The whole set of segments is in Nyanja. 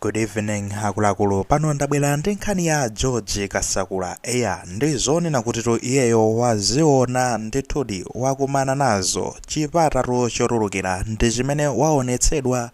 Good evening akuluakulu pano ndabwera ndi nkhani ya George Kasakula eya ndi zonena kutitu iyeyo waziona ndithudi wakumana nazo chipatatu chotulukira ndi chimene waonetsedwa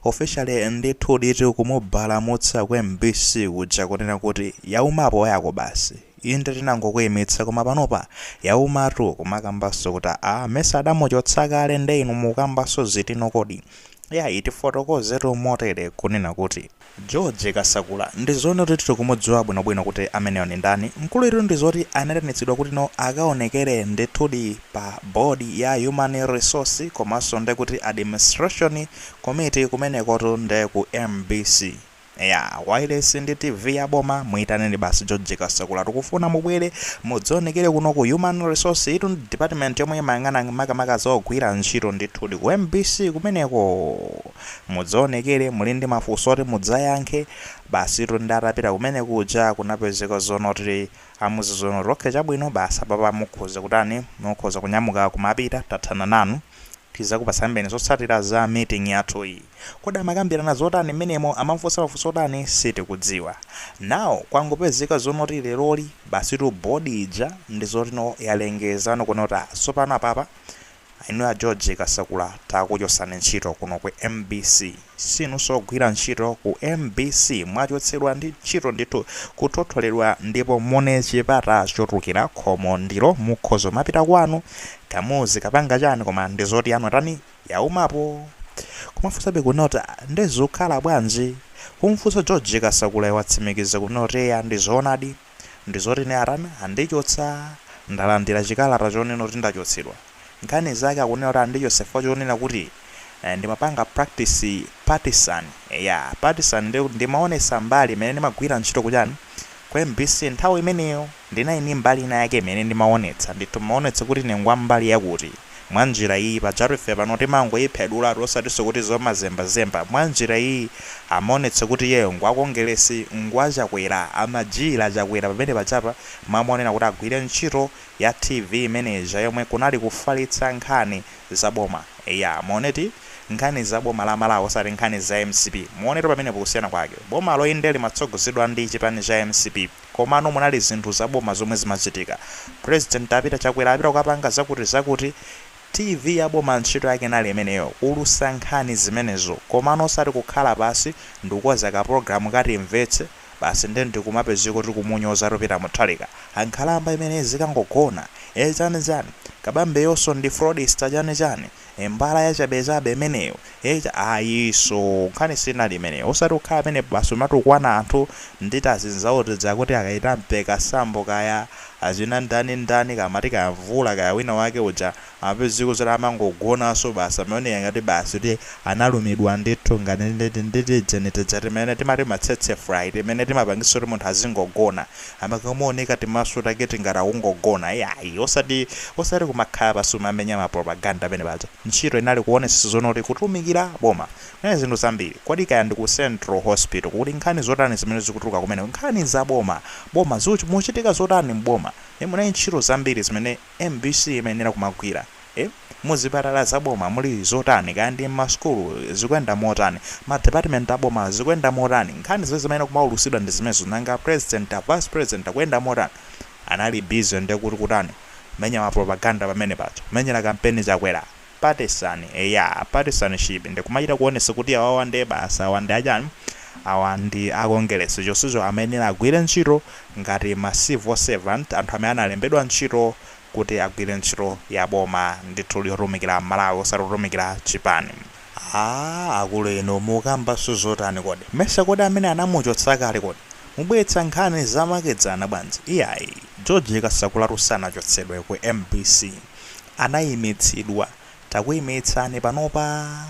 officially ndithudi tikumubalamutsa ku MBC kuja kunena kuti yaumapo yanu basi inde tinangokuyimitsa koma panopa yaumatu mumakambanso kuti a mesa adamuchotsa kale nde inu mukambanso zitino kodi Yayi tifotokozetu motere kunena kuti. George Kasakula ndizoona kuti tili kumudziwa bwino bwino kuti ameneyo ndi ndani, mkuluyitu ndizoti anaitanitsidwa kutino akaonekere ndithudi pa board ya human resource komanso ndekuti administration committee kumenekotu nde ku mbc. Eya, wailesi ndi TV ya boma, muitaneni basi George Kasakula. Tikufuna mubwere mudzionekere kuno ku Human Resource, iyitu ndi department yomwe imayang'ana makamaka za ogwira ntchito. Ndithudi ku mbc kumeneko mudzionekere, muli ndi mafunso oti mudzayankhe. Basitu nde atapita kumene kuja kunapezeka zoona kuti amuuza zoona kuti okay chabwino basi apapa mukhoza kutani, mukhoza kunyamuka kumapita, tathana nanu. Tizakupatsanibe zotsatira za meeting yathuyi. Kodi amakambirana zotani mmenemo? Amamfunsa mafunso otani? Sitikudziwa. Now kwangopezeka zoona zoti leroli basitu board ija ndizotino yalengeza kunena kuti ah tsopano apapa inuyo a George Kasakula takuchotsani ntchito kuno ku mbc. Sinunso ogwira ntchito ku mbc mwachotsedwa ndi ntchito ndithu kuthotholedwa ndipo muone chipata chotulukira khomo ndilo mukhoza kumapita kwanu mukadzikapanga chani koma ndizoti yanu yatani? Yaumapo? Kumafunsabe kunena kuti ah nde zukhala bwanji? Kumfunsa George Kasakulayo watsimikiza kunena kuti eya ndizoonadi. ndizoti ine atani andichotsa ndalandira chikalata chonena kuti ndachotsedwa. Nkhani zake akunena kuti andichotsa chifukwa chonena kuti ndimapanga practice partisan. Eya, partisan ndiye kuti ndimaonetsa mbali imene ndimagwira ntchito kuchani, ku mbc. Nthawi imeneyo ndinali ndi mbali ina yake imene ndimaonetsa ndithu, ndimaonetsa kuti ine ngwambali yakuti. mwa njira iyi, pajatu ife pano timangoyiphedulatu osatinso kuti zomazembazemba, mwa njira iyi amaonetsa kuti iyeyo ngwa Kongeresi, ngwa Chakwera, amajijira Chakwera pamene pajapa amayenera kuti agwire ntchito ya TV imene ija yomwe kunali kufalitsa nkhani za boma, eya muonetu nkhani za boma la Malawi osati nkhani za mcp, muonetu pamenepo kusiyana kwake, bomalo inde limatsogozedwa ndi chipani cha mcp. komano munali zinthu za boma zomwe zimachitika. President apita Chakwera apita kukapanga zakuti zakuti TV ya boma ntchito yake inali imeneyo kuulutsa nkhani zimenezo komano osati kukhala pansi ndikukonza ka program ka timvetse basi nde ndikumapezeka kuti kumunyozatu Peter Mutharika nkhalamba imeneyi izikangogona ee chani chani Kabambeyonso ndi fraudster chani chani He mbala yachabechabe imeneyo eti ayi nkhani sinali imeneyo osati kukhala penepo basi kumatukwana anthu ndi tazinzawo tija kuti akaita Mpekansambo kaya achina ndani ndani Kamati kaya Mvula kaya wina wake uja amapezeka zoti amangogonaso basi amaoneka ngati basi kuti analumidwa ndithu ngati ndi tijeni tija timene timati ma tsetse fly timene timapangisa kuti munthu azingogona Amakamuoneka timaso take tingati akungogona iyayi osati osati kumakhala basi kumamenya ma propaganda pene paja ntchito inali kuonesesa zoona kuti kutumikira boma kunali zinthu zambiri kodi kaya ndi ku Central Hospital kuli nkhani zotani zimene zikutuluka kumeneko nkhani za boma boma muchitika zotani m'boma ndiye munali ntchito zambiri zimene Mbc imayenera kumagwira ee muzipatala za boma muli zotani kaya ndi mmasukulu zikuyenda motani ma department aboma zikuyenda motani nkhani zimene zimayenera kumaulusidwa ndi zimenezo nanga a president a vice president akuyenda motani anali busy ndekuti kutani kumenya ma propaganda pamenepaja kumenyera kampeni chakwera Partisan eya partisanship ndi kumachita kuonesa kuti awawa nde basi awa ndi achani awa ndi a Kongeresi chonsecho amayenera agwire ntchito ngati ma civil servant anthu amene analembedwa ntchito kuti agwire ntchito ya boma ndithu yotumikira Amalawi osati kutumikira chipani. Aaa akulu inu mukambanso zotani kodi? Mesa kodi amene anamuchotsa kale kodi? Mubweretsa nkhani zamakedzana bwanji? Iyayi. George Kasakulatu sanachotsedwe ku mbc. Anayimitsidwa. Takuyimitsani panopa.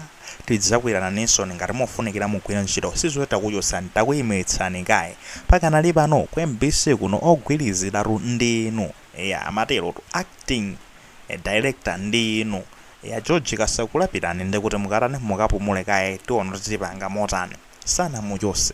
Tidzagwirana chisoni ngati mufunikira mugwire ntchito. Sizoti takuchotsani, takuyimitsani kaye. Pakanali pano ku mbc kuno ogwiriziratu ndi inu. Eya, amaterotu. Acting Director ndi inu. Eya, George Kasakula pitani ndikuti mukatani, mukapumule kaye tiona kuti tipanga motani. Sanamuchose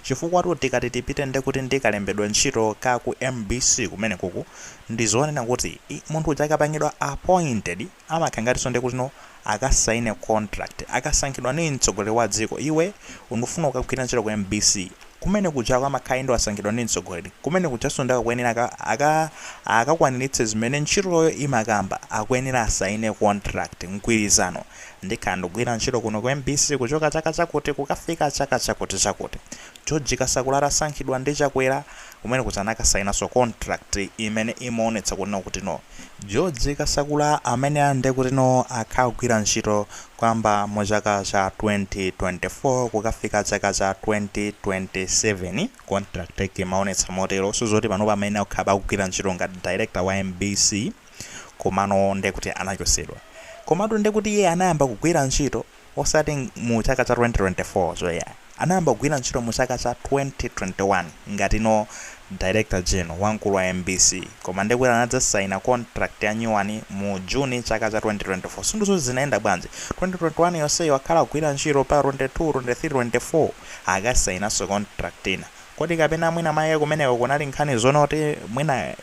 chifukwatu tikati tipite ndekuti ndi kalembedwe ka ntchito ka ku mbc kumenekuku ndizonena kuti ii munthu uja akapangidwa appointed amakhala ngatinso ndekutino akasaina contract akasankhidwa ndi mtsogoleri wa dziko iwe ndufuna kukagwira ntchito ku mbc kumenekujako amakhala inde wasankhidwa ndi mtsogoleri kumenekujanso nde akuyenera aka akakwaniritse zimene ntchitoyo imakamba akuyenera asaine contract mgwirizano Ndikhala ndikugwira ntchito kuno ku mbc kuchoka chaka chakuti kukafika chaka chakuti chakuti. George Kasakula atasankhidwa ndi Chakwera, kumene kuja anakasainanso contract imene imaonetsa kunena kuti no. George Kasakula ameneyu nde kuti no akhala akugwira ntchito kuyamba mu chaka cha 2024 kukafika chaka cha 2027, contract yake imaonetsa motero. Ndiye zoti panopa amayenera kukhala akugwira ntchito ngati director wa mbc. Komano nde kuti anachosedwa. Komatu nde kuti iye anayamba kugwira ntchito osati mu chaka cha 2024 cho yayi. Anayamba kugwira ntchito mu chaka cha 2021 ngati no Director General wamkulu wa mbc koma nde kuti anadzasaina contract ya nyuwani mu June chaka cha 2024. Sindidziwa kuti zinayenda bwanji. 2021 yonseyi wakhala akugwira ntchito mpaka 22, 23, 24 akasainanso contract ina. Kodi kapena mwina mwake kumeneko kunali nkhani zoona kuti mwina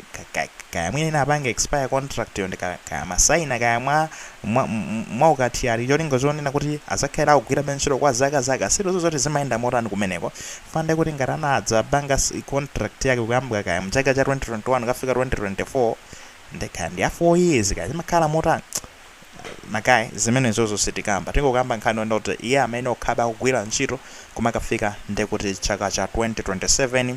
kaya mwina inapanga expire contract yo ndi ka, kaya amasaina kaya mwa, mwa, mwa ukathyali cholinga chonena kuti azakhala akugwirabe ntchito kwa zaka zaka sitidziwa zoti zimayenda motani kumeneko chifukwa nde kuti ngati anadzapanga contract yake kuyambwa kaya mchaka cha 2021 kukafika 2024 nde kaya ndi ya 4 years kaya zimakhala motani Ma guy zimenezozo sitikamba tingokamba nkhani yonena kuti iye amenewo akhalabe akugwira ntchito kumakafika ndekuti chaka cha 2027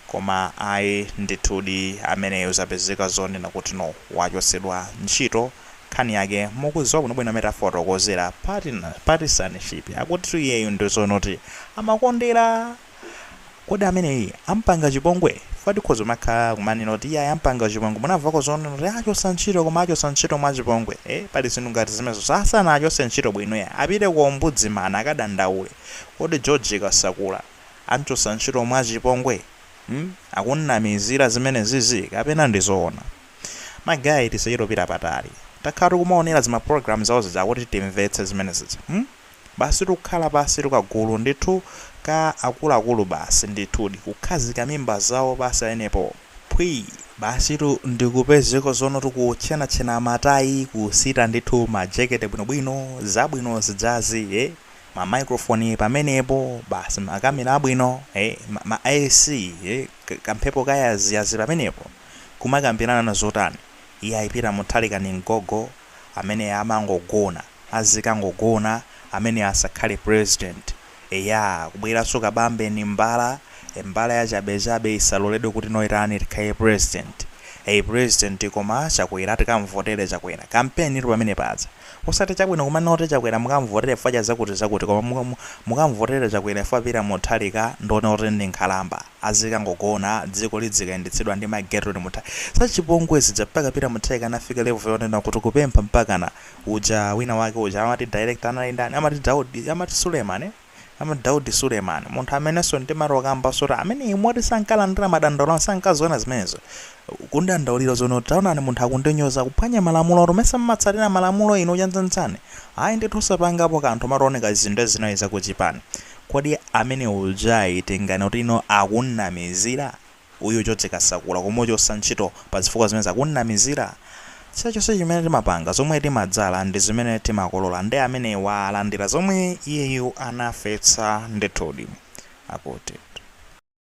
koma ayi ndithudi ameneyo zapezeka zonena kuti no wachotsedwa ntchito nkhani yake mukudziwa bwino bwino amene tafotokozela patina partisanship akutitu iyeyu ndi zonoti amakondera kodi ameneyi ampanga chipongwe chifukwa tikhoza kumakhala kumanena kuti iye ampanga chipongwe munamvako zonena kuti achotsa ntchito koma achotsa ntchito mwa chipongwe eh pali zinthu ngati zimenezo sanaachotse ntchito bwino ya apite ku ombudsman akadandaule kodi George Kasakula amchotsa ntchito mwa chipongwe hmm? akunnamizira zimene zizi kapena ndi zoona ma guy tisachito pita patali takhala tikumaonera zima program zawo zija kuti timvetse zimene zija hmm? Basi nkukhala pansitu kagulu ndithu ka akuluakulu basi ndithudi kukhazika mimba zawo pansi pamenepo phwii. Basitu ndikupezeka zonotu kutchenatchena matayi kusita ndithu ma jekete bwinobwino zabwino zijazi ee ma microphone pamenepo basi ma camera abwino ee ma ma AC ee kamphepo kayaziyazi pamenepo kumakambirana zotani iyayi Peter Mutharika ndi mgogo amene amangogona azikangogona amene asakhale president eya kubweranso kaamba ndi mbala e mbala yachabechabe isaloledwe kuti noitani ikhale president ei president koma chakwera tikamvotere chakwera kampenitu pamene paja osati chabwino kumanena kuti chakwera mukamvotere chifukwa chazakuti zakuti koma mukamvotere chakwera chifukwa peter mutharika ndioneka kuti ndi nkhalamba azikangogona dziko lidzikayendetsedwa ndi ma Gertrude Mutha. zachipongwe zija mpaka Peter Mutharika anafika level yonena kuti kupempha mpakana uja wina wake uja amati director anali ndani amati Daudi amati Suleiman eh amati Daudi Suleiman munthu amenenso ndimati ukambanso kuti ameneyu moti sankalandira madandaulo a anthu sankaziona zimenezo kumdandaulira zoona kuti taonani munthu akundinyoza akuphwanya malamulotu mesa mumatsatira malamulo inu chavuta nchani ayi ndithu osapangapo kanthu mutaoneka izi nde zinali zakuchipani Kodi amene ujayitengani kuti iyo akumunamizira? Uyu George Kasakula kumuchosa ntchito pa zifukwa zimenezi akumunamizira? Chilichonse chimene timapanga, zomwe timadzala ndi zimene timakolola nde ameneyu walandira zomwe iyeyu anafetsa ndithudi. Akuti.